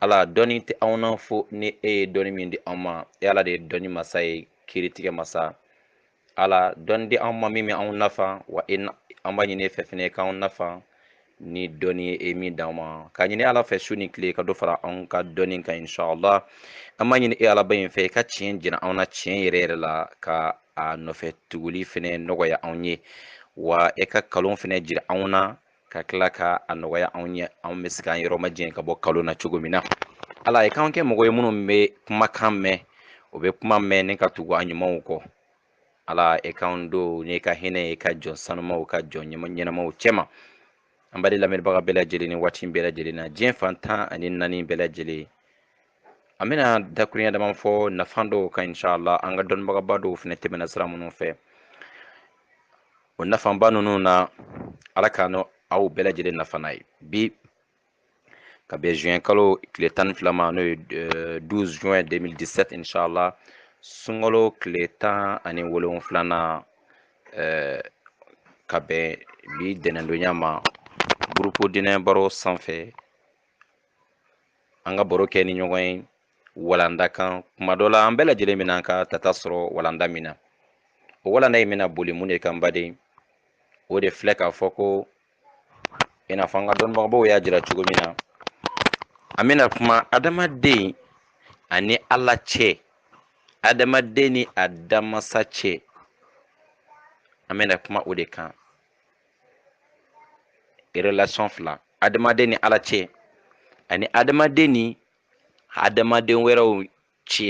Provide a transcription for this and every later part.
ala dɔnni tɛ anw na fo ni e ye dɔnni min di anw ma e ala de ye dɔnni masa ye kiritigɛ masa ala dɔnni di anw ma min bɛ anw nafa wa e an b'a ɲini e fɛ fɛnɛ k'anw nafa ni dɔnni ye e min d'anw ma k'a ɲini ala fɛ su ni tile ka dɔ fara anw ka dɔnni kan inshallah an b'a ɲini e alaba in fɛ i ka tiɲɛ jira anw na tiɲɛ yɛrɛ yɛrɛ la ka a nɔfɛ tuguli fɛnɛ nɔgɔya anw ye wa e ka kalon fɛnɛ jira anw na ka tila ka a nɔgɔya anw ye anw bɛ se k'an yɔrɔ majɛn ka bɔ kalon na cogo min na ala i k'an kɛ mɔgɔ ye minnu bɛ kumakan mɛn u bɛ kuma mɛn ni ka tugu a ɲumanw kɔ ala e k'an don n'i ka hinɛ ye i ka jɔn sanumaw ka jɔn ɲɛnamaw cɛma an baden lamɛnbaga bɛɛ lajɛlen ni waati bɛɛ lajɛlen na diɲɛ fan tan ani naani bɛɛ lajɛlen an bɛna dakurunya dama fɔ nafa dɔw kan inshallah an ka dɔnnibagaba dɔw fɛnɛ tɛmɛna sira minnu fɛ o nafaba ninnu na ala k'an n'aw bɛɛ lajɛlen nafa n'a ye bi ka bɛn juin kalo tile tan ni fila ma n'o ye 12 juin 2017 inshallah sunkalo tile tan ani wolonwulanan ka bɛn bi tɛnɛndonya ma gurupu dinɛ baro sanfɛ an ka baro kɛ ni ɲɔgɔn ye walanda kan kuma dɔ la an bɛɛ lajɛlen bɛna an ka tata sɔrɔ walanda min na o walanda in bɛna boli mun de kan baden o de filɛ k'a fɔ ko i n'a fɔ an ka dɔnnibagabaw y'a jira cogo min na an bɛna kuma adamaden ani ala cɛ adamaden ni a danmasa cɛ an bɛna kuma o de kan relation fila adamaden ni ala cɛ ani adamaden ni adamaden wɛrɛw cɛ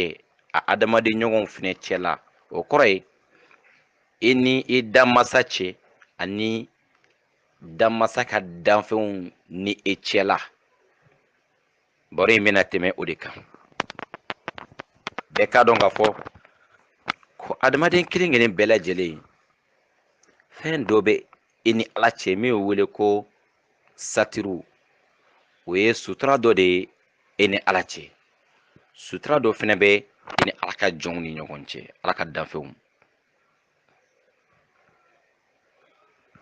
a adamaden ɲɔgɔnw fɛnɛ cɛ la o kɔrɔ ye i ni i danmasa cɛ ani danmasa ka danfɛnw ni e cɛ la baro in bɛna tɛmɛ o de kan bɛɛ k'a dɔn k'a fɔ ko adamaden kelen kelen bɛɛ lajɛlen fɛn dɔ bɛ i ni ala cɛ min bɛ wele ko satiru o ye sutura dɔ de ye e ni ala cɛ sutura dɔ fɛnɛ bɛ i ni ala ka jɔnw ni ɲɔgɔn cɛ ala ka danfɛnw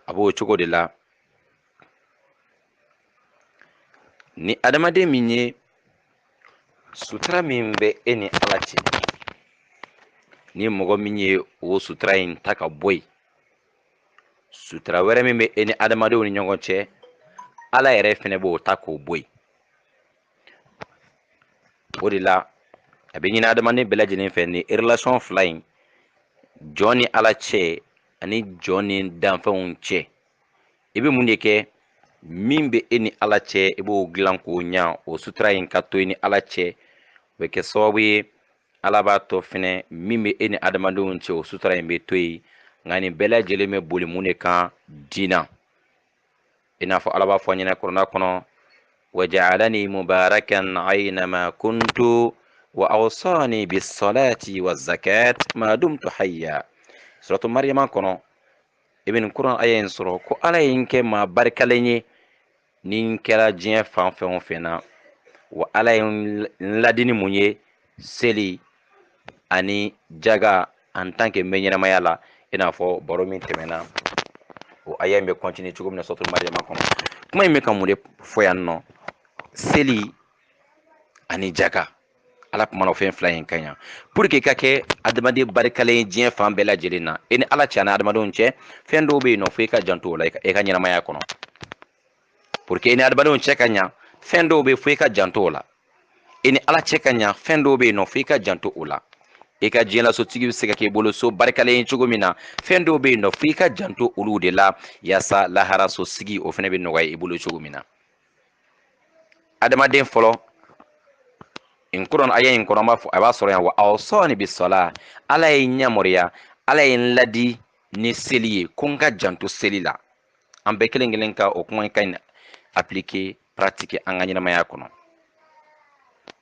a b'o cogo de la ni adamaden min ye sutura min bɛ e ni ala cɛ ni mɔgɔ min ye o sutura in ta ka bɔ yen sutura wɛrɛ min bɛ e ni adamadenw ni ɲɔgɔn cɛ ala yɛrɛ fɛnɛ b'o ta k'o bɔ yen o de la a bɛ ɲini adamaden bɛɛ lajɛlen fɛ ni relation fila in jɔn ni ala cɛ ani jɔn ni danfɛnw cɛ i bɛ mun de kɛ min bɛ e ni ala cɛ i b'o dilan k'o ɲa o sutura in ka to i ni ala cɛ o bɛ kɛ sababu ye ala b'a to fɛnɛ min bɛ e ni adamadenw cɛ o sutura in bɛ to yen nka nin bɛɛ lajɛlen bɛ boli mun de kan diina i n'a fɔ ala b'a fɔ an ɲɛna kurana kɔnɔ wajaalani mubarakan aynama kuntu wa awsani bisalati wa zakat ma dumtu hayya suratu mariyama kɔnɔ i bɛ nin kuran aya in sɔrɔ ko ala ye n kɛ maa barikalen ye ni n kɛra diɲɛ fan fɛn o fɛn na wa ala ye n ladi ni mun ye seli ani jaga en tant que n bɛ ɲɛnamaya la i n'a fɔ baro min tɛmɛna o aya in bɛ kɔntini cogo min na suratu mariyama kɔnɔ kuma in bɛ ka mun de fɔ yan nɔ seli ani jaga ala kumana o fɛn fila in kan yan pour que i ka kɛ adamaden barikalen ye diɲɛ fan bɛɛ lajɛlen na e ni ala cɛ ani adamadenw cɛ fɛn dɔw bɛ yen nɔ fo i ka janto o la i ka ɲɛnamaya kɔnɔ pour que i ni adamadenw cɛ ka ɲa fɛn dɔw bɛ yen fo i ka janto o la i ni ala cɛ ka ɲa fɛn dɔw bɛ yen nɔ fo i ka janto o la i ka diɲɛlasosigi bɛ se ka k'i bolo so barikalen ye cogo min na fɛn dɔw bɛ yen nɔ fo i ka janto olu de la yaasa laharasosigi o fana bɛ nɔgɔya i bolo cogo min na adamaden fɔlɔ in kuran aya in kɔnɔ an b'a fɔ a b'a sɔrɔ yan wa awsani bisala ala ye n yamaruya ala ye n ladi ni seli ye ko n ka janto seli la an bɛɛ kelen kelen ka o kuma in ka ɲi appliquer pratiquer an ka ɲɛnamaya kɔnɔ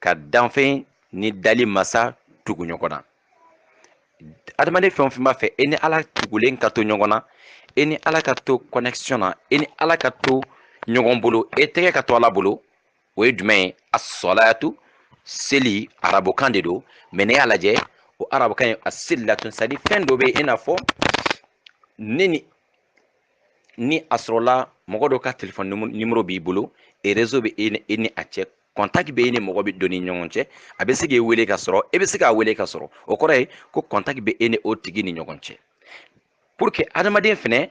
ka danfɛn ni dali masa tugu ɲɔgɔn na adamaden fɛn o fɛn b'a fɛ e ni ala tugulen ka to ɲɔgɔn na e ni ala ka to connexion na e ni ala ka to ɲɔgɔn bolo e tɛgɛ ka to ala bolo o ye jumɛn ye asalatu seli arabukan de don mɛ n'i y'a lajɛ o arabukan ye asilatun c'est à dire fɛn dɔ bɛ yen i n'a fɔ ne ni ni a sɔrɔla mɔgɔ dɔ ka telefɔni nimoro b'i bolo et rezo bɛ e ni a cɛ kɔntaki bɛ e ni mɔgɔ bɛ don ni ɲɔgɔn cɛ a bɛ se k'e wele ka sɔrɔ e bɛ se k'a wele k'a sɔrɔ o kɔrɔ ye ko kɔntaki bɛ e ni o tigi ni ɲɔgɔn cɛ pour que adamaden fɛnɛ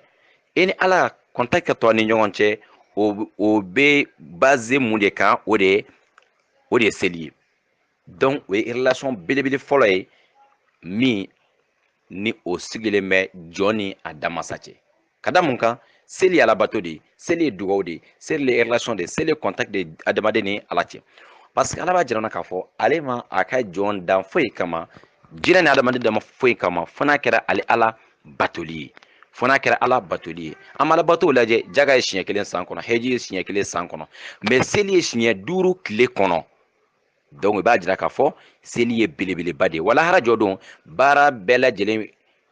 e ni ala kɔntaki ka to a ni ɲɔgɔn cɛ o o bɛ baze mun de kan o de ye o de ye seli ye donc o ye relation belebele fɔlɔ ye min ni o sigilen bɛ jɔn ni a damasa cɛ ka da mun kan seli ye alabato de ye seli ye dugawu de ye seli ye relation de ye seli ye contact de ye adamaden ni ala cɛ parce que ala b'a jira an na k'a fɔ ale ma a ka jɔn dan foyi kama jinɛ ni adamaden dama foyi kama fo n'a kɛra ale ala batoli ye fo n'a kɛra ala batoli ye an ma alabatow lajɛ jaga ye siɲɛ kelen san kɔnɔ heji ye siɲɛ kelen san kɔnɔ mɛ seli ye siɲɛ duuru tile kɔnɔ donc i b'a jira k'a fɔ seli ye belebeleba de ye wa lahara jɔ don baara bɛɛ lajɛlen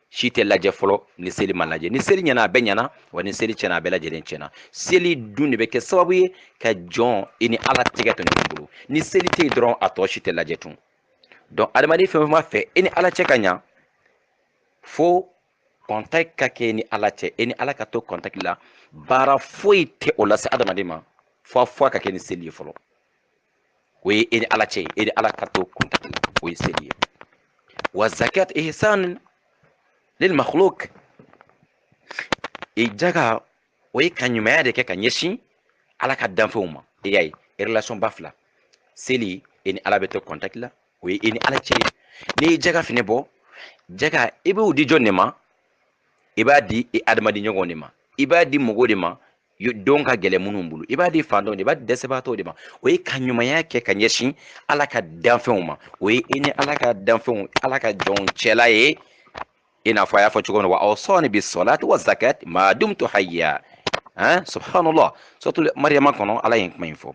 si tɛ lajɛ fɔlɔ ni seli ma lajɛ ni seli ɲɛna a bɛɛ ɲɛna wa ni seli tiɲɛna a bɛɛ lajɛlen tiɲɛna seli dun de bɛ kɛ sababu ye ka jɔn i ni ala tɛgɛ to ɲɔgɔn bolo ni seli tɛ yen dɔrɔn a tɔ si tɛ lajɛ tun donc adamaden fɛn o fɛn b'a fɛ e ni ala cɛ ka ɲa fo contact ka kɛ ni ala cɛ e ni ala ka to contact la baara foyi tɛ o lase adamaden ma fo a fo a ka kɛ ni seli ye fɔlɔ o ye e ni ala cɛ ye e ni ala ka to contact la o ye seli ye wa zakat ihsan lil makhluk e jaga o ye ka ɲumanya de kɛ ka ɲɛsin ala ka danfɛnw ma e y'a ye relation ba fila seli e ni ala bɛ to contact la o ye e ni ala cɛ ye n'i ye jaga fɛnɛ bɔ jaga i b'o di jɔn de ma i b'a di i adamaden ɲɔgɔn de ma i b'a di mɔgɔw de ma don ka gɛlɛn minnu bolo i b'a di faantanw de i b'a di dɛsɛbaatɔw de ma o ye ka ɲumanya kɛ ka ɲɛsin ala ka danfɛnw ma o ye i ni ala ka danfɛnw ala ka jɔnw cɛla ye i n'a fɔ a y'a fɔ cogo min na wa awsani bisolati wa zakat ma dumtu hayya han subhanallah suratul mariyama kɔnɔ ala ye kuma in fɔ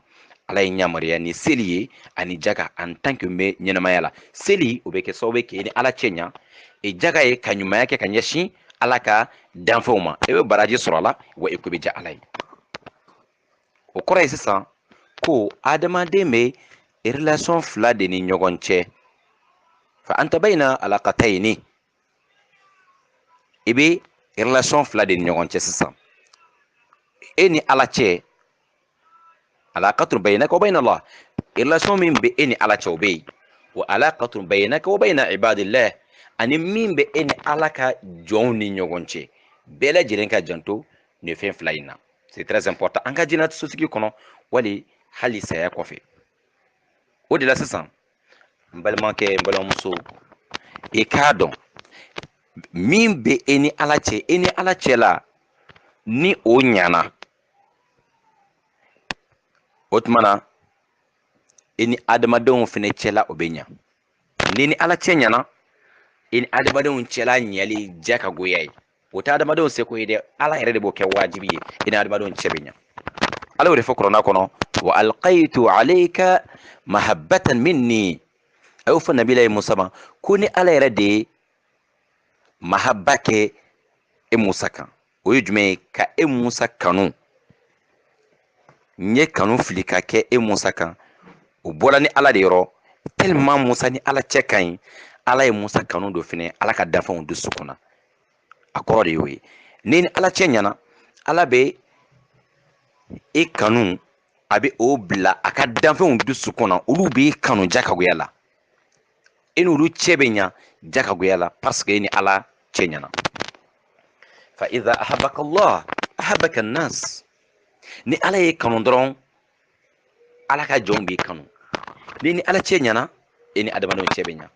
ala ye n yamaruya ni seli ye ani jaga en tant que bɛ ɲɛnamaya la seli o bɛ kɛ sababu ye k'e ni ala cɛ ɲa e jaga ye ka ɲumanya kɛ ka ɲɛsin ala ka danfɛnw ma e bɛ baraji sɔrɔ a la wa i ko bɛ diya ala ye o kɔrɔ ye sisan ko adamaden bɛ relation fila de ni ɲɔgɔn cɛ fa anta bayna alaqatayni i bɛ relation fila de ni ɲɔgɔn cɛ sisan e ni ala cɛ alaqatun baynaka wa bayna allah relation min bɛ e ni ala cɛ o bɛ yen wa alaqatun baynaka wa bayna ibadillah ani min bɛ e ni ala ka jɔnw ni ɲɔgɔn cɛ bɛɛ lajɛlen ka janto nin fɛn fila in na c'est très important an ka diɲɛso sigi kɔnɔ wali hali saya kɔfɛ o de la sisan n balimakɛ n balimamuso i k'a dɔn min bɛ e ni ala cɛ e ni ala cɛ la ni o ɲana o tuma na i ni adamadenw fana cɛla o bɛ ɲa n'i ni ala cɛ ɲana i ni adamadenw cɛla ɲɛli diyagoya ye o tɛ adamadenw seko ye dɛ ala yɛrɛ de b'o kɛ wajibi ye i ni adamadenw cɛ bɛ ɲa ala y'o de fɔ kurana kɔnɔ wa alqaitu alayka mahabbatan minni a y'o fɔ nabilayi musa ma ko ne ala yɛrɛ de ye mahabba kɛ e musa kan o ye jumɛn ye ka e musa kanu n ye kanu fili ka kɛ e musa kan o bɔra ne ala de yɔrɔ tellement musa ni ala cɛ ka ɲi ala ye musa kanu don fɛnɛ ala ka danfɛnw dusukun na a kɔrɔ de y'o ye n'i ni ala cɛ ɲana ala bɛ e kanu a bɛ o bila a ka danfɛnw dusukun na olu b'i kanu jakagoya la e n'olu cɛ bɛ ɲa jakagoya la parce que e ni ala cɛ ɲana fa idha ahabaka allah ahabaka nas ni ala y'i kanu dɔrɔn ala ka jɔnw b'i kanu n'i ni ala cɛ ɲana e ni adamadenw cɛ bɛ ɲa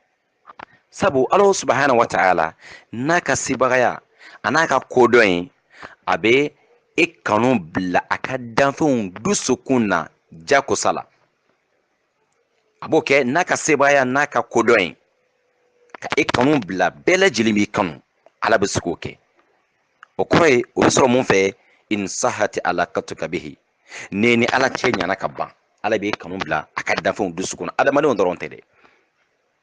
sabu ala subahana wa taala n'a ka sebagaya a n'a ka kodɔn ye a bɛ e kanu bila a ka danfɛnw dusukun na jakosa la a b'o kɛ n'a ka sebaaya n'a ka kodɔn ye ka e kanu bila bɛɛ lajɛlen b'i kanu ala bɛ se k'o kɛ o kɔrɔ ye o bɛ sɔrɔ mun fɛ in sahati alakatuka bihi n'e ni ala cɛ ɲana ka ban ala b'i kanu bila a ka danfɛnw dusukun na adamadenw dɔrɔn tɛ dɛ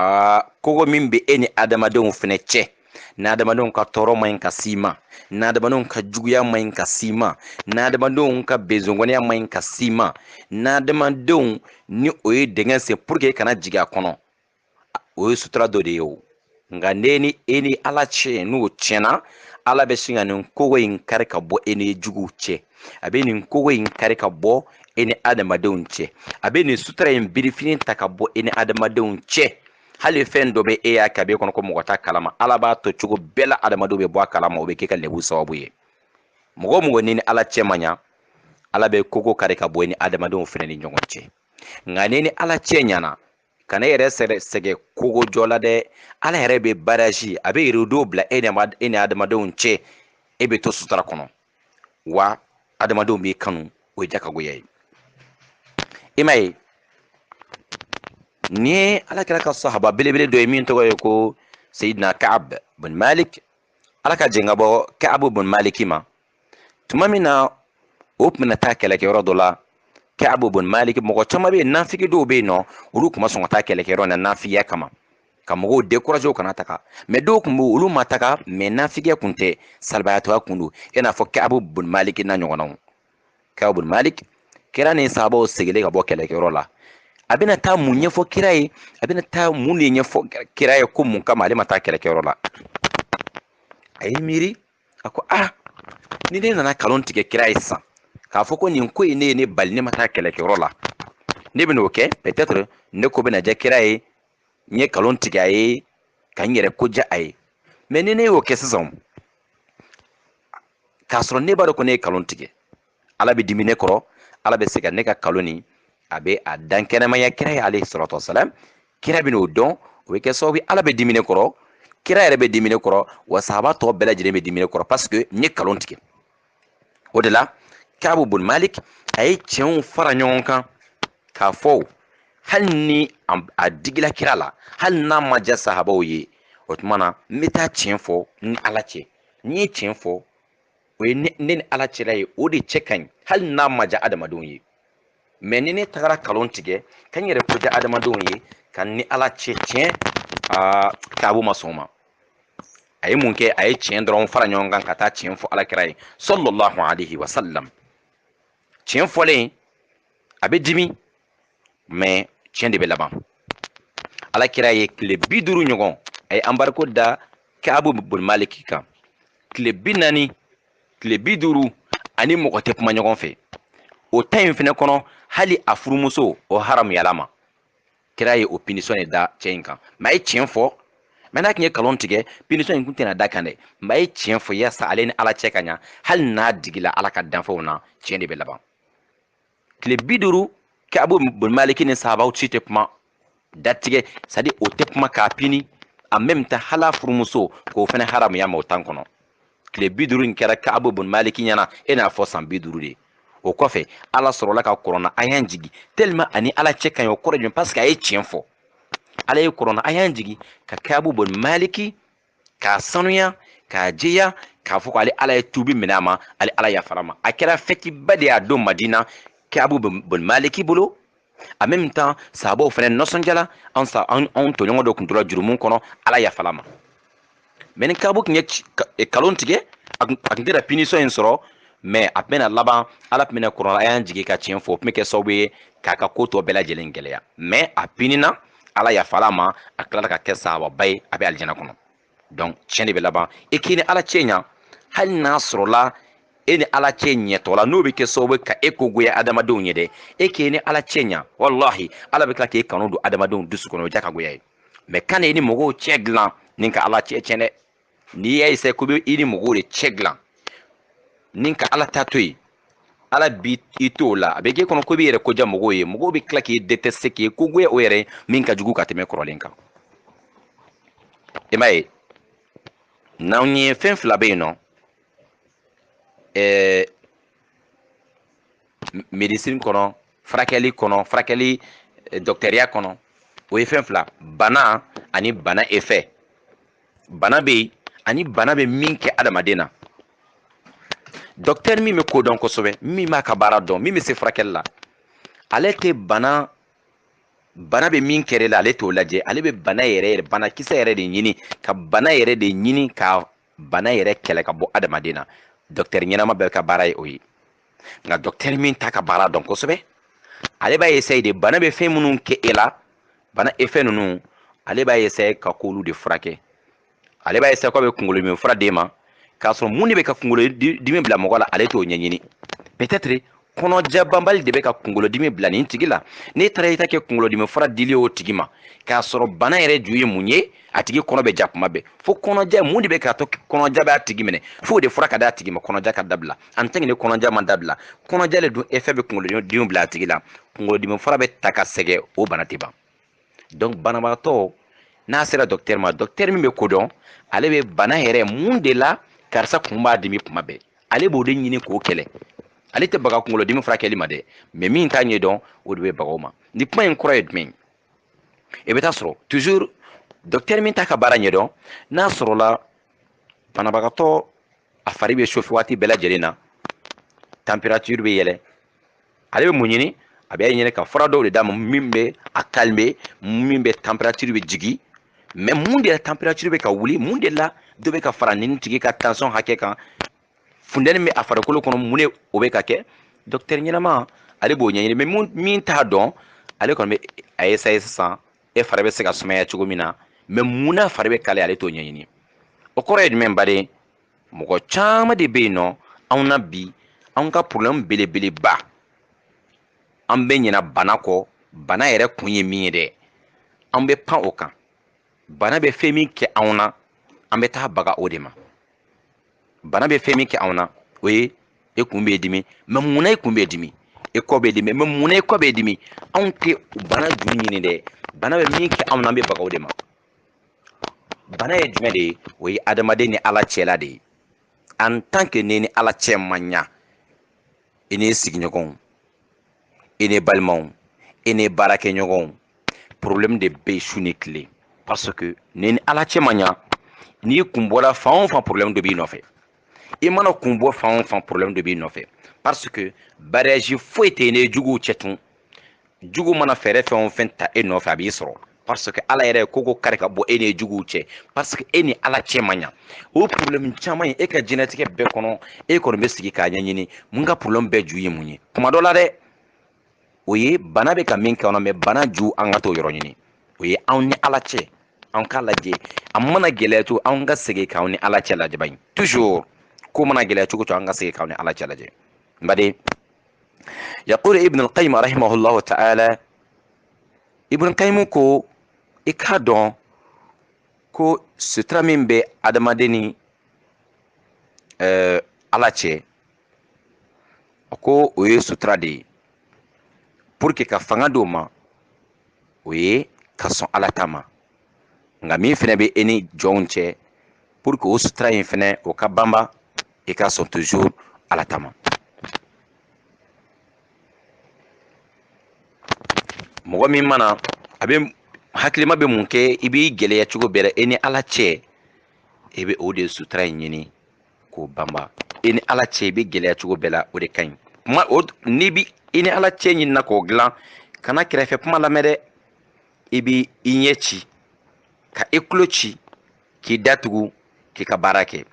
aa kogo min bɛ e ni adamadenw fɛnɛ cɛ n'adamadenw ka tɔɔrɔ ma ɲi ka s'i ma n'adamadenw ka juguya ma ɲi ka s'i ma n'adamadenw ka bezongɔniya ma ɲi ka s'i ma n'adamadenw ni o ye dingɛ sen pour que e kana jigin a kɔnɔ o ye sutura dɔ de ye o nka ne ni e ni ala cɛ n'o tiɲɛna ala bɛ sin ka nin kogo in kari ka bɔ e ni juguw cɛ a bɛ nin kogo in kari ka bɔ e ni adamadenw cɛ a bɛ nin sutura in birifini ta ka bɔ e ni adamadenw cɛ hali fɛn dɔ bɛ e y'a kɛ a b'e kɔnɔ ko mɔgɔ t'a kalama ala b'a to cogo bɛɛ la adamadenw bɛ bɔ a kalama o bɛ k'e ka lebu sababu ye mɔgɔ mɔgɔ n'i ni ala cɛ ma ɲa ala bɛ kogo kari ka bɔ e ni adamadenw fana ni ɲɔgɔn cɛ nka n'i ni ala cɛ ɲana kan'e yɛrɛ sɛgɛ kogo jɔ la dɛ ala yɛrɛ bɛ barrage a bɛ rideau bila e e ni adamadenw cɛ e bɛ to sutura kɔnɔ wa adamadenw b'i kanu o ye jakagoya ye i m'a ye ni ye ala kira ka sahaba belebele dɔ ye min tɔgɔ ye ko seyidina kaab bin malik ala ka jɛn ka bɔ kaabu bin maliki ma tuma min na o tun bɛna taa kɛlɛkɛyɔrɔ dɔ la kaabu bin maliki mɔgɔ caman bɛ yen nafigi dɔw bɛ yen n'olu tun ma sɔn ka taa kɛlɛkɛyɔrɔ na nafigiya kama ka mɔgɔw décourager u kana taga mais dɔw tun bɛ olu ma taga mais nafigiya kun tɛ salabaatɔya kun don i n'a fɔ kaabu bin maliki n'a ɲɔgɔnnaw kaabu maliki kira ni sahabaw seginnen ka bɔ kɛlɛkɛyɔrɔ la a bɛna taa mun ɲɛfɔ kira ye a bɛna taa mun de ɲɛfɔ kira ye ko mun kama ale ma taa kɛlɛkɛyɔrɔ la a ye miiri a ko a ni ne nana kalon tigɛ kira ye sisan k'a fɔ ko nin ko in ne ye ne bali ne ma taa kɛlɛkɛyɔrɔ la ne bɛn'o kɛ peut-être ne ko bɛna diya kira ye n ye kalon tigɛ a ye ka n yɛrɛ ko diya a ye mais ni ne y'o kɛ sisan k'a sɔrɔ ne b'a dɔn ko ne ye kalon tigɛ ala bɛ dimi ne kɔrɔ ala bɛ se ka ne ka kalon nin a bɛ a dankɛnɛmaya kira ye alayhi salatu wasalam kira bɛn'o dɔn o bɛ kɛ sababu ala bɛ dimi ne kɔrɔ kira yɛrɛ bɛ dimi ne kɔrɔ wa sahaba tɔ bɛɛ lajɛlen bɛ dimi ne kɔrɔ parce que n ye kalon tigɛ o de la kaabu bun malik a ye tiɲɛw fara ɲɔgɔn kan k'a fɔ hali ni a digila kira la hali n'a ma diya sahabaw ye o tuma na n bɛ taa tiɲɛ fɔ ni ala cɛ n'i ye tiɲɛ fɔ o ye ne ni ala cɛla ye o de cɛ ka ɲi hali n'a ma diya adamadenw ye mais ni ne tagara kalon tigɛ ka n yɛrɛ ko diya adamadenw ye ka n ni ala cɛ tiɲɛ kaabu ma sɔn o ma a ye mun kɛ a ye tiɲɛ dɔrɔn fara ɲɔgɔn kan ka taa tiɲɛ fɔ ala kira ye sallallahu alaihi wasallam tiɲɛ fɔlen a bɛ dimi mais tiɲɛ de bɛ laban ala kira ye tile bi duuru ɲɔgɔn a ye embargo da kaabu bun maliki kan tile bi naani tile bi duuru ani mɔgɔ tɛ kuma ɲɔgɔn fɛ o tan in fɛnɛ kɔnɔ hali a furumuso o haramuyal'a ma kira ye o punition de da cɛ in kan mais a ye tiɲɛ fɔ mais n'a tun ye kalon tigɛ punition in tun tɛna d'a kan dɛ mais a ye tiɲɛ fɔ yasa ale ni ala cɛ ka ɲa hali n'a digila ala ka danfɛnw na tiɲɛ de bɛ laban tile bi duuru kaabu bun maliki ni sahabaw si tɛ kuma datigɛ c'est-à-dire o tɛ kuma k'a pini en même temps hal'a furumuso k'o fana haramuy'a ma o tan kɔnɔ tile bi duuru in kɛra kaabu bun maliki ɲɛna e n'a fɔ san bi duuru de o kɔfɛ ala sɔrɔla ka kurana aya jigi tellement a ni ala cɛ ka ɲi o kɔrɔ jumɛn parce que a ye tiɲɛ fɔ ala ye kurana aya jigi ka kaabu bun maliki k'a sanuya k'a jɛya k'a fɔ k'ale ala ye tubi minɛ a ma ale ala yafar'a ma a kɛra fɛtiba de y'a don madina kaabu bun maliki bolo en même temps sahabaw fana nisɔndiyala an sa an anw tɔɲɔgɔn dɔ tun tora jurumu kɔnɔ ala yafal'a ma mais ni kaabu tun ye kalon tigɛ a tun tɛna punition in sɔrɔ mais a tun bɛna laban ala tun bɛna kurana aya jigin ka tiɲɛ fɔ o tun bɛ kɛ sababu ye k'a ka ko tɔ bɛɛ lajɛlen gɛlɛya mais a pinina ala yafal'a ma a tilala ka kɛ sahababa ye a bɛ alijana kɔnɔ donc tiɲɛ de bɛ laban e k'i ni ala cɛ ɲa hali n'a sɔrɔla e ni ala cɛ ɲɛtɔ la n'o bɛ kɛ sababu ka e ko goya adamadenw ye dɛ e k'i ni ala cɛ ɲa walahi ala bɛ tila k'e kanu don adamadenw dusu kɔnɔ o diya ka goya ye mais kana i ni mɔgɔw cɛ dilan ni ka ala cɛ tiɲɛ dɛ n'i y'a essayé ko bɛ i ni mɔgɔw de cɛ dilan ni ka ala ta to yen ala b'i t'o la a bɛ k'e kɔnɔ ko i b'i yɛrɛ ko diya mɔgɔw ye mɔgɔw bɛ tila k'i détester k'i ko goya o yɛrɛ min ka jugu ka tɛmɛ kɔrɔlen kan i m'a ye n'anw ye fɛn fila bɛ yen nɔ ɛɛ médecine kɔnɔ furakɛli kɔnɔ furakɛli dɔkitɛriya kɔnɔ o ye fɛn fila bana ani bana effet bana bɛ yen ani bana bɛ min kɛ adamaden na dɔkitɛri min bɛ ko dɔn kosɛbɛ min b'a ka baara dɔn min bɛ se furakɛli la ale tɛ bana bana bɛ min kɛ e la ale t'o lajɛ ale bɛ bana yɛrɛ yɛrɛ banakisɛ yɛrɛ de ɲini ka bana yɛrɛ de ɲini ka bana yɛrɛ kɛlɛ ka bɔ adamaden na dɔkitɛri ɲɛnama bɛɛ ka baara ye o ye nka dɔkitɛri min t'a ka baara dɔn kosɛbɛ ale b'a essayer de bana bɛ fɛn minnu kɛ e la bana effet ninnu ale b'a essayer ka k'olu de furakɛ ale b'a essayer k'a bɛ kunkolodimi fura d'e ma k'a sɔrɔ mun de bɛ ka kunkolodimi bila mɔgɔ la ale t'o ɲɛɲini peut-être kɔnɔja banbali de bɛ ka kunkolodimi bila nin tigi la n'e taara i ta kɛ kunkolodimi fura dili o tigi ma k'a sɔrɔ bana yɛrɛ ju ye mun ye a tigi kɔnɔ bɛ ja kuma bɛɛ fo kɔnɔja mun de bɛ k'a to kɔnɔja b'a tigi minɛ f'o de fura ka d'a tigi ma kɔnɔja ka dabila en tant que ni kɔnɔja ma dabila kɔnɔja le dun effet bɛ kunkolodimi bila a tigi la kunkolodimi fura bɛ ta ka sɛgɛ o bana tɛ ban donc banabagatɔ n'a sera dɔkitɛri ma dɔkitɛri min bɛ ko dɔn ale bɛ bana yɛrɛ mun de la karisa kun b'a dimi kuma bɛɛ ale b'o de ɲini k'o kɛlɛ ale tɛ baga kunkolodimi furakɛli ma dɛ mais min t'a ɲɛdɔn o de bɛ baga o ma nin kuma in kɔrɔ ye jumɛn ye i bɛ taa sɔrɔ toujours dɔkitɛri min t'a ka baara ɲɛdɔn n'a sɔrɔla banabagatɔ a fari bɛ chauffer waati bɛɛ lajɛlen na température bɛ yɛlɛ ale bɛ mun ɲini a bɛ ɲini ka fura dɔw de d'a ma min bɛ a calmer min bɛ température bɛ jigin mais mun de la température bɛ ka wuli mun de la dɔ bɛ ka fara nin tigi ka tension hakɛ kan funtɛni bɛ a farikolo kɔnɔ mun de o bɛ ka kɛ dɔkitɛri ɲɛnama ale b'o ɲɛɲini mais min t'a dɔn ale kɔni bɛ a essayer sisan e fari bɛ se ka sumaya cogo min na mais mun na fari bɛ kalaya ale t'o ɲɛɲini o kɔrɔ ye jumɛn baden mɔgɔ caman de bɛ yen nɔ anw na bi anw ka porobilɛmu belebeleba an bɛ ɲina bana kɔ bana yɛrɛ kun ye min ye dɛ an bɛ pan o kan bana bɛ fɛn min kɛ anw na an bɛ taa baga o de ma bana bɛ fɛn min kɛ anw na o ye e kun b'e dimi mais munna e kun b'e dimi e kɔ b'e dimi mais munna e kɔ b'e dimi anw tɛ bana ju ɲini dɛ bana bɛ min kɛ anw na an bɛ baga o de ma bana ye jumɛn de ye o ye adamaden ni ala cɛla de ye en tant que ne ni ala cɛ ma ɲa i n'i sigiɲɔgɔnw i ni balimaw i ni baarakɛɲɔgɔnw problème de bɛ su ni tile parce que e ni ala cɛ ma ɲa n'i kun bɔra fan o fan problème dɔ b'i nɔfɛ i mana kun bɔ fan o fan problème dɔ b'i nɔfɛ parce que barrage foyi t'i ni juguw cɛ tun jugu mana fɛɛrɛ fɛn o fɛn ta e nɔfɛ a b'i sɔrɔ parce que ala yɛrɛ ye kogo kari ka bɔ e ni juguw cɛ parce que e ni ala cɛ man ɲa o ye problème caman ye e ka diɲɛlatigɛ bɛɛ kɔnɔ e kɔni bɛ sigi k'a ɲɛɲini mun ka problème bɛɛ ju ye mun ye kuma dɔ la dɛ o ye bana bɛ ka min kɛ anw na mais bana ju an ka t'o yɔrɔ ɲini o ye anw ni ala cɛ an k'a lajɛ a mana gɛlɛya cogo an ka segin k'anw ni ala cɛ lajɛ bani toujours ko mana gɛlɛya cogo cogo an ka segin k'anw ni ala cɛ lajɛ n baden yaqulu ibn alqayim rahimahullahu taala ibn kayimu ko i k'a dɔn ko sutura min bɛ adamaden ni ala cɛ ko o ye sutura de ye pour que ka fanga d'o ma o ye ka sɔn ala ta ma nka min fɛnɛ bɛ e ni jɔnw cɛ pour que o sutura in fɛnɛ o ka banba i ka sɔn toujours ala ta ma mɔgɔ min mana a bɛ hakilima bɛ mun kɛ i b'i gɛlɛya cogo bɛɛ la e ni ala cɛ e bɛ o de sutura in ɲini k'o banba e ni ala cɛ i b'i gɛlɛya cogo bɛɛ la o de ka ɲi kuma o n'i bi i ni ala cɛ ɲinina k'o dilan kana kɛrɛfɛ kuma lamɛn dɛ i bi i ɲɛ ci ka i tulo ci k'i da tugu k'i ka baara kɛ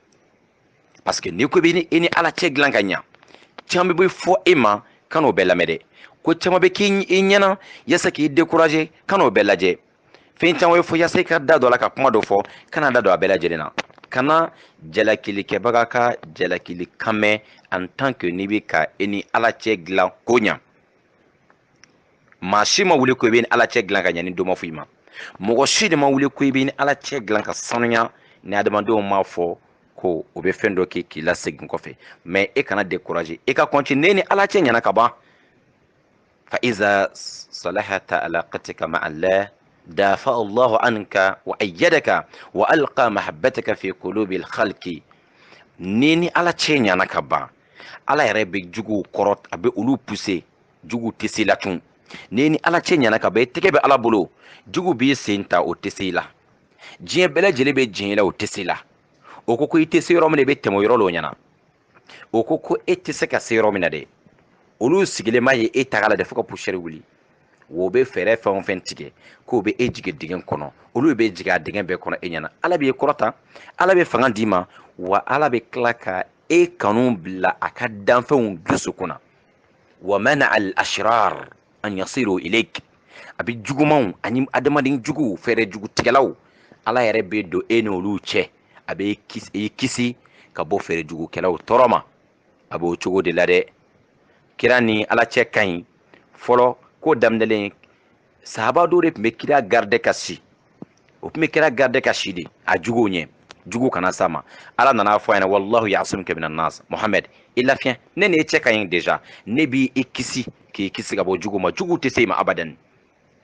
parce que n'i ko bɛ e ni ala cɛ dilan ka ɲa caman bɛ fɔ e ma kan'o bɛɛ lamɛn dɛ ko caman bɛ kɛ i ɲɛna yasa k'i décourager kan'o bɛɛ lajɛ fɛn caman bɛ fɔ yasa i ka da don a la ka kuma dɔ fɔ kana da don a bɛɛ lajɛlen na kana jalakilikɛbaga ka jalakili kan mɛn en tant que n'i bɛ ka e ni ala cɛ dilan k'o ɲa maa si ma wuli ko i b'i ni ala cɛ dilan ka ɲa ni dɔ ma fɔ i ma mɔgɔ si de ma wuli ko i b'i ni ala cɛ dilan ka sanuya ni adamadenw m'a fɔ ko o bɛ fɛn dɔ kɛ k'i lasegin kɔfɛ mais e kana décourager e ka continuer ni ala cɛ ɲɛna ka ban fa iza salahata alaqatika ma allah dafa allahu anka wa ayyadaka wa alqa mahabbataka fi qulubi alkhalqi n'i ni ala cɛ ɲɛna ka ban ala yɛrɛ bɛ juguw kɔrɔ a bɛ olu pousser jugu tɛ s'i la tun n'i ni ala cɛ ɲɛna ka ban i tɛgɛ bɛ ala bolo jugu b'i sen ta o tɛ s'i la diɲɛ bɛɛ lajɛlen bɛ diɲɛ la o tɛ s'i la o ko ko i tɛ se yɔrɔ min na i bɛ tɛmɛ o yɔrɔ la o ɲɛna o ko ko e tɛ se ka se yɔrɔ min na dɛ olu sigilen ma ye e taga la dɛ fo ka poussière wuli o bɛ fɛɛrɛ fɛn o fɛn tigɛ k'o bɛ e jigin dingɛ kɔnɔ olu bɛ jigin a dingɛ bɛɛ kɔnɔ e ɲɛna ala b'i kɔrɔta ala bɛ fanga d'i ma wa ala bɛ tila ka e kanu bila a ka danfɛnw dusukun na wa mana al ashrar an yasiru ilayk a bɛ jugumanw ani adamaden juguw fɛɛrɛ jugutigɛlaw ala yɛrɛ bɛ don e n'olu cɛ a bɛ i kisi ka bɔ fɛɛrɛ jugukɛlaw tɔɔrɔ ma a b'o cogo de la dɛ kira ni ala cɛ ka ɲi fɔlɔ ko daminɛlen sahaba dɔw de tun bɛ kira garde ka si o tun bɛ kira garde ka si de a juguw ɲɛ jugu kana s'a ma ala nan'a fɔ a ɲɛna wallahu ya'simuka minan nas mohamɛd i lafiɲɛ ne ni e cɛ ka ɲi deja ne b'i kisi k'i kisi ka bɔ jugu ma jugu tɛ se i ma abadan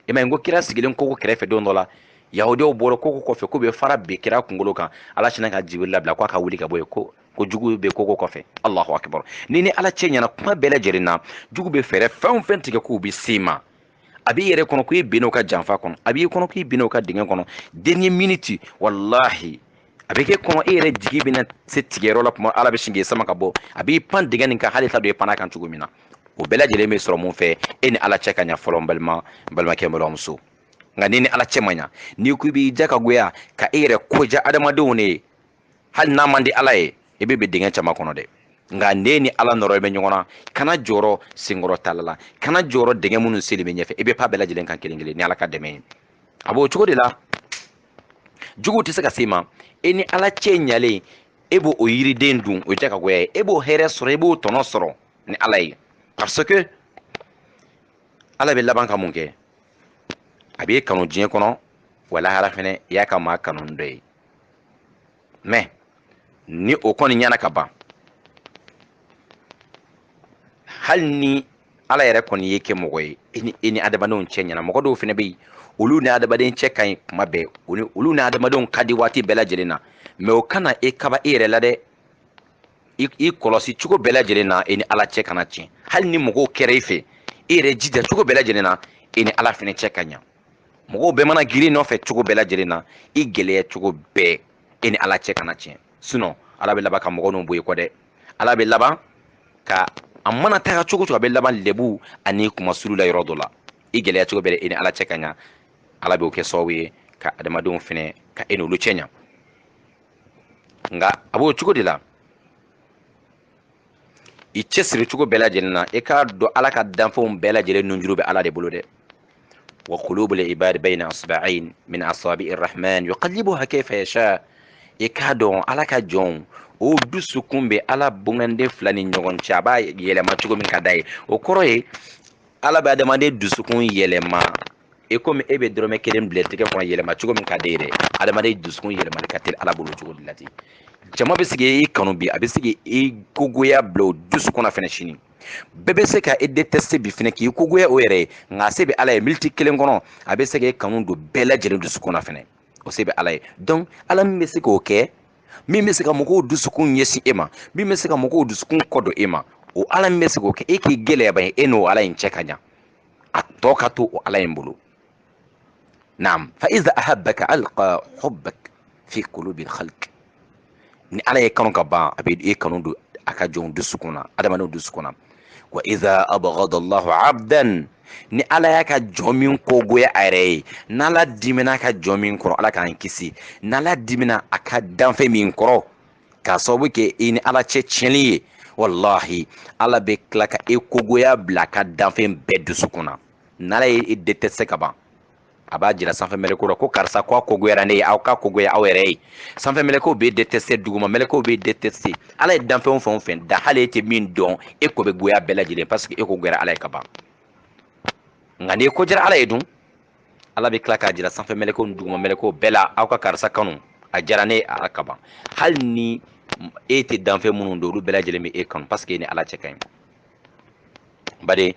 i ma ye n ko kira sigilen koko kɛrɛfɛ don dɔ la yahudiyaw bɔra koko kɔfɛ k'u bɛ fara bin kira kunkolo kan ala sinna ka jibiri labila k'a ka wuli ka bɔ yen ko ko jugu bɛ koko kɔfɛ allahu akibar n'i ni ala cɛ ɲɛna kuma bɛɛ lajɛlen na jugu bɛ fɛɛrɛ fɛn o fɛn tigɛ k'u bɛ se i ma a b'i yɛrɛ kɔnɔ ko i binn'o ka janfa kɔnɔ a b'i kɔnɔ k'i binn'o ka dingɛ kɔnɔ dernière minute walahi a bɛ k'i kɔnɔ e yɛrɛ jigi bɛna se tigɛyɔrɔ la kuma ala bɛ sin k'i sama ka bɔ a b'i pan dingɛ nin kan hali t'a dɔn i pann'a kan cogo min na o bɛɛ lajɛlen bɛ sɔrɔ mun fɛ e ni ala cɛ ka ɲa fɔlɔ n balima n balimakɛ n balimamuso nka n'i ni ala cɛ ma ɲa n'i ko i b'i ja ka goya ka e yɛrɛ ko ja adamadenw de ye hali n'a man di ala ye i bɛ bin dingɛ caman kɔnɔ dɛ nka n'e ni ala nɔrɔlen bɛ ɲɔgɔn na kana jɔrɔ senkɔrɔ tala la kana jɔrɔ dingɛ minnu sennen b'i ɲɛfɛ i bɛ pan a bɛɛ lajɛlen kan kelen kelen ni ala ka dɛmɛ ye a b'o cogo de la juguw tɛ se ka se i ma e ni ala cɛ ɲalen e b'o yiriden dun o ye jakagoya ye e b'o hɛrɛ sɔrɔ e b'o tɔnɔ sɔrɔ ni ala ye parce que ala bɛ laban ka mun kɛ a b'e kanu diɲɛ kɔnɔ wa lahara fɛnɛ i y'a ka maa kanu dɔ ye mɛ ni o kɔni ɲɛna ka ban hali ni ala yɛrɛ kɔni y'i kɛ mɔgɔ ye e ni adamadenw cɛ ɲɛna mɔgɔ dɔw fɛnɛ bɛ yen olu ni adamaden cɛ ka ɲi kuma bɛɛ olu ni adamadenw ka di waati bɛɛ lajɛlen na mɛ o kana e kaba e yɛrɛ la dɛ i kɔlɔsi cogo bɛɛ lajɛlen na e ni ala cɛ kana tiɲɛ hali ni mɔgɔw kɛra i fɛ e yɛrɛ jija cogo bɛɛ lajɛlen na e ni ala fɛnɛ cɛ ka ɲa mɔgɔw bɛɛ mana girin i nɔfɛ cogo bɛɛ lajɛlen na i gɛlɛya cogo bɛɛ e ni ala cɛ kana tiɲɛ sinɔn ala bɛ laban ka mɔgɔ ninnu bɔ i kɔ dɛ ala bɛ laban ka a mana taga cogo cogo a bɛ laban lebu ani kunmasuuli la yɔrɔ dɔ la i gɛlɛya cogo bɛɛ e ni ala cɛ ka ɲa ala b'o kɛ sababu ye ka adamadenw fɛnɛ ka e n'olu cɛ ɲa nka a b'o cogo de la i cɛsiri cogo bɛɛ lajɛlen na i k'a dɔn ala ka danfɛnw bɛɛ lajɛlen nunjuru bɛ ala de bolo dɛ wa qulubul ibadi bayna asba'ain min asabi irrahman yuqallibuha kayfa yasha i k'a dɔn ala ka jɔnw o dusukun bɛ ala bonganden fila ni ɲɔgɔn cɛ a b'a yɛlɛma cogo min ka d'a ye o kɔrɔ ye ala bɛ adamaden dusukun yɛlɛma i komi e bɛ dɔrɔmɛ kelen bila tɛgɛ kɔnɔ yɛlɛma cogo min ka d'e ye dɛ adamaden dusukun yɛlɛmali ka teli ala bolo cogo de la ten jama bɛ se k'i kanu bi a bɛ se k'i kogoya bila o dusu kɔnɔ fɛnɛ sini bɛɛ bɛ se ka e détester bi fɛnɛ k'i kogoya o yɛrɛ ye nka se bɛ ala ye miniti kelen kɔnɔ a bɛ se k'e kanu don bɛɛ lajɛlen dusukun na fɛnɛ o se bɛ ala ye donc ala min bɛ se k'o kɛ min bɛ se ka mɔgɔw dusukun ɲɛsin e ma min bɛ se ka mɔgɔw dusukun kɔ don e ma o ala min bɛ se k'o kɛ e k'i gɛlɛya ban e n'o ala in cɛ ka ɲa a tɔ ka to o ala in bolo naam fa iza ahabbaka alqa hubbak fi qulubi alkhalq ni ala y'e kanu ka ban a bɛ e kanu don a ka jɔnw dusukun na adamadenw dusukun na wa iza abghada allahu abdan ni ala y'a ka jɔn min kogoya a yɛrɛ ye n'ala dimina a ka jɔn min kɔrɔ ala k'an kisi n'ala dimina a ka danfɛn min kɔrɔ k'a sababu kɛ i ni ala cɛ tiɲɛni ye walahi ala bɛ tila ka e kogoya bila a ka danfɛn bɛɛ dusukun na n'ala ye e détester ka ban a b'a jira sanfɛ mɛlɛkow la ko karisa ko a kogoyara ne ye aw k'a kogoya aw yɛrɛ ye sanfɛ mɛlɛkow bɛ détester duguma mɛlɛkow bɛ détester ala ye danfɛnw fɛn o fɛn da hali e tɛ min dɔn e ko bɛ goya bɛɛ lajɛlen parce que e ko goyara ala ye ka ban nka n'i ko diyara ala ye dun ala bɛ tila k'a jira sanfɛ mɛlɛkow ni duguma mɛlɛkow bɛɛ la aw ka karisa kanu a diyara ne ye ala ka ban hali ni e tɛ danfɛn minnu dɔn olu bɛɛ lajɛlen bɛ e kanu parce que e ni ala cɛ ka ɲi bari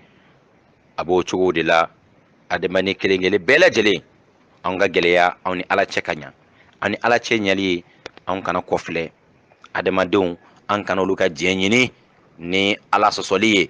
a b'o cogo de la adamaden kelen kelen bɛɛ lajɛlen anw ka gɛlɛya anw ni ala cɛ ka ɲa an ni ala cɛ ɲali ye anw kana kɔfilɛ adamadenw an kana olu ka diɲɛ ɲini ni ala sɔsɔli ye